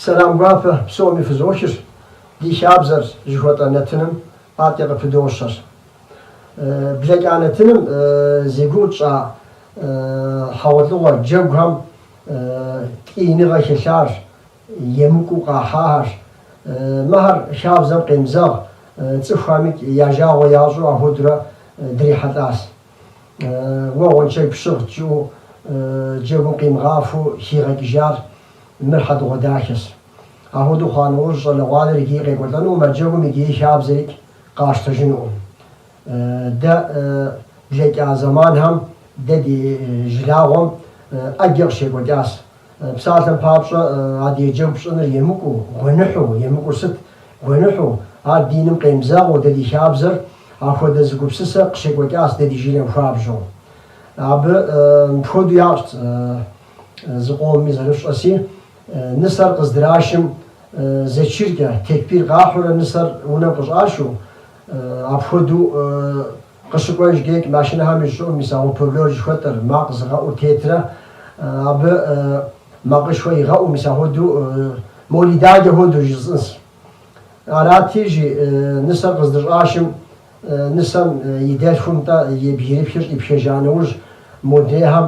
Сэлам гуапэ псоми фызохыр, ди хабзэр жыхуэтӏэ нэтыным атӏэ къыпыдощэр. Блэкӏа нэтыным зи гугъу тщӏа хьэгъуэлӏыгъуэ джэгухэм ткӏийныгъэ хэлъар, Емыкӏу къахьахэр. Мыхьэр хабзэм къемызэгъ, цӏыхухэмикӏ я жагъуэ ящӏу ахуэдурэ дрихьэлӏащ. Уэ гъуэншэгь пщыгъщ жиӏэу джэгум къимыгъафэу хигъэкӏыжар мыр хьэдэгъуэдахэщ. Ахуэдэу хъуа нэужь щӏалэгъуалэр иджыри къекӏуэлӏэнукъым а джэгум иджыри хабзэрикӏ къащтэжынукъым. Дэ блэкӏа зэманхэм дэ ди жылагъуэм ӏэджэ къыщекӏуэкӏащ. Псалъэм папщӏэ, адыгэ джэгу пщӏыныр емыкӏуу, гуэныхьу, емыкӏур сыт? гуэныхьу, ар диным къемызэгъыу дэ ди хабзэр ахуэдэ зы гупсысэ къыщекӏуэкӏащ дэ ди жылэм хуабжьу. Абы мыпхуэдэу ящӏт зыкъомми зэрыфщӏэси, нысэр къыздрашым зэчыркӏэ, текбир къахьурэ нысэр унэм къыщӏашу, Апхуэдэу къыщыкӏуэжкӏикӏ машинэхэм и щӏыӏум мис опарлор жыхуэтӏэр, макъ зыгъэӏур тетрэ абы макъышхуэ игъэӏу, мис ахуэдэу молид еджэ хуэдэу жысӏынс. Арати, иджы нысэр къыздыщӏашым, нысэм и дэлъхум-тӏэ и бгьирыпхыр щӏипхыжа нэужь, модрейхэм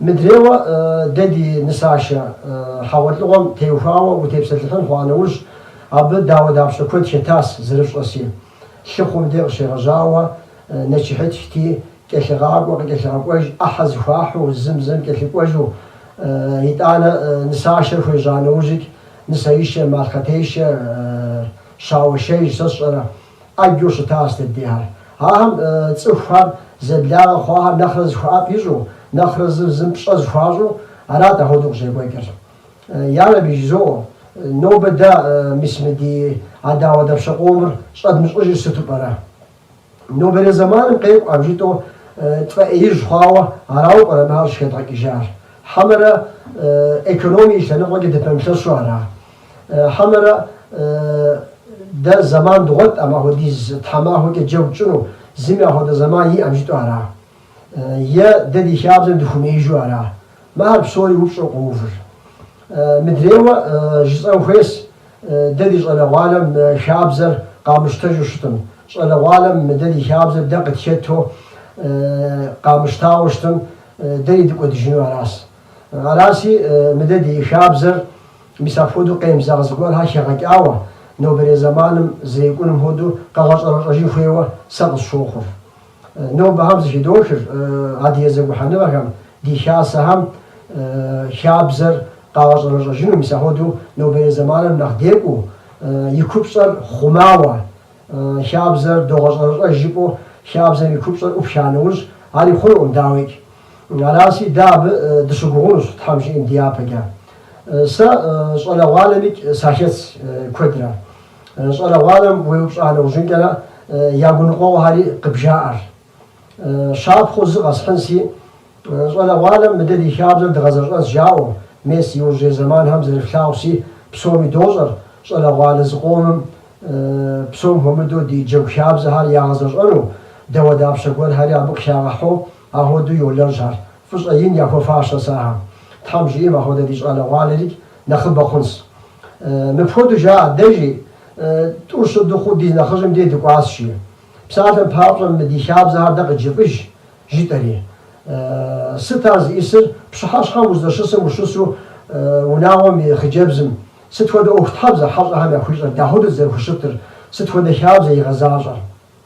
Мыдрейуэ, дэ ди нысашэ хьэгъуэлӏыгъуэм теухуауэ утепсэлъыхьын хъуа нэужь, абы дауэ-дапщэ куэд хэтас, зэрыфщӏэси. Лъыхъум де къыщегъэжьауэ нэчыхьытхти, кӏэлъыгъакӏуэ къыкӏэлъыгъэкӏуэж ӏыхьэ зэхуахьу, зым-зым кӏэлъыкӏуэжу. Итӏанэ нысашэр хуежьа нэужьикӏ, нысэишэ, малъхъэтешэ, щауэишэж сэ сщӏэрэ? Ящӏу щыта Астембийхэр. Ахэм цӏыхухэр зэблагъэ хъуахэр нэхърэ зэхуэӏэфӏ ищӏу, нэхърэ зыр зым пщӏэ зэхуащӏу арат ахуэдэу къыщӏекӏуэкӏыр. Ярэби жызоӏэу, нобэ дэ, мис мы ди а дауэдапщэ къомыр щӏэдмыщӏыжыр сыту пӏэрэ? Нобэрей зэманым къекӏуӏэм жытӏу тфӏэӏеижь хъуауэ арауэ пӏэрэ мыхьэр щӏыхэдгъэкӏыжар? Хьэмэрэ экономие и лъэныкъуэкӏэ дыпэмылъэщу ара? Хьэмэрэ дэ зэман дгъуэтӏэм апхуэдиз тхьэмахуэкӏэ джэгу тщӏыну, зыми апхуэдэ зэман иӏэм жытӏэу ара? Е дэ ди хабзэм дыхуэмеижу ара? Мыхьэр псори упщӏэу къоувыр. Мыдрейуэ жысӏэн хуейщ, дэ ди щӏалэгъуалэм хабзэр къамыщтэжу щытым, щӏалэгъуалэм дэ ди хабзэр дэ къытхету къамыщтауэ щытым, дэри дыкӏуэдыжыну аращ. Аращи, мы дэ ди хабзэр, мис апхуэдэу къемызэгъ зыгуэрхэр хигъэкӏауэ, нобэрей зэманым зэрекӏуным хуэдэу къэгъэщӏэрэщӏэжын хуейуэ сэ къысщохъур. Нобэхэм зэхыдохыр, адыгэ зэгухьэныгъэхэм, ди хасэхэм хабзэр къагъэщӏэрэщӏэжыну, мис апхуэдэу нобэрей зэманым нэхъ декӏуу, и купщӏэр хъумауэ, хабзэр догъэщӏэрэщӏэж жыпӏэу хабзэм и купщӏэр ӏупша нэужь, ари хъунукъым, дауикӏ. Араси, дэ абы дыщыгугъынущ Тхьэм жиӏэм ди япэкӏэ. Сэ щӏалэгъуалэмикӏ сахэтщ куэдрэ. Щӏалэгъуалэм уеупщӏа нэужьынкӏэрэ я гуныкъуэгъуэхэри къыбжаӏэр. Щапхъэу зы къэсхьынси. Щӏалэгъуалэм мы дэ ди хабзэр дгъэзэщӏэнс жаӏэу, мес иужьрей зэманхэм зэрыфлъагъуси, псоми дощӏэр, щӏалэгъуалэ зыкъомым псом хуэмыдэу ди джэгу хабзэхэр ягъэзэщӏэну, дауэдапщэ гуэрхэри абы къыхагъэхьэу Ахуэдэу йолэжьхэр. Фӏыщӏэ ин яхуэфащэс ахэм. Тхьэм жиӏэм апхуэдэ ди щӏалэгъуалэр икӏ нэхъыбэ хъунщ. Мыпхуэдэу жаӏэ дэ, жи, тӏу-щы дыхъуу ди нэхъыжьым дей дыкӏуащ, жи. Псалъэм папщӏэ, мы ди хабзэхэр дэ къыджефӏэж, жытӏэри. Сыт ар зищӏысыр? Пщыхьэщхьэм уздэщысым ущысу унагъуэм и хъыджэбзым сыт хуэдэ ӏуэхутхьэбзэ хьэщӏэхэм яхуищӏэр, дапхуэдэу зэрыхущытыр, сыт хуэдэ хабзэ игъэзащӏэр?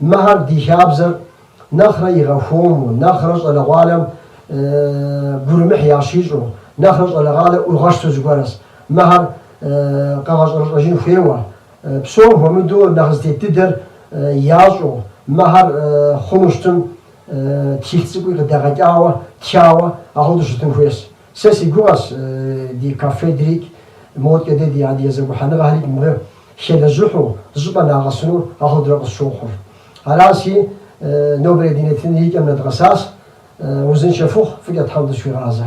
Мыхьэр ди хабзэр нэхърэ игъэхуэму, нэхърэ щӏалэгъуалэм гурымыхь ящищӏу, нэхърэ щӏалэгъуалэ ӏуигъэщту зыгуэрщ. Мыхьэр къэгъэщӏэрэщӏэжын хуейуэ. Псом хуэмыдэу нэхъ зытет дыдэр ящӏу, мыхьэр хъуну щытым тхылъ цӏыкӏуи къыдэгъэкӏауэ, тхауэ, ахуэдэу щытын хуейщ. Сэ си гугъэщ ди кафедрикӏ модкӏэ дэ ди адыгэ зэгухьэныгъэхэрикӏ мыбы хелэжьыхьу зыщӏыпӏэ нагъэсыну ахуэдэу къысщохъур. Аращи, нобэрей ди нэтын и кӏэм нэдгъэсащ. Узыншэ фыхъу, фӏыкӏэ Тхьэм дызэхуигъазэ.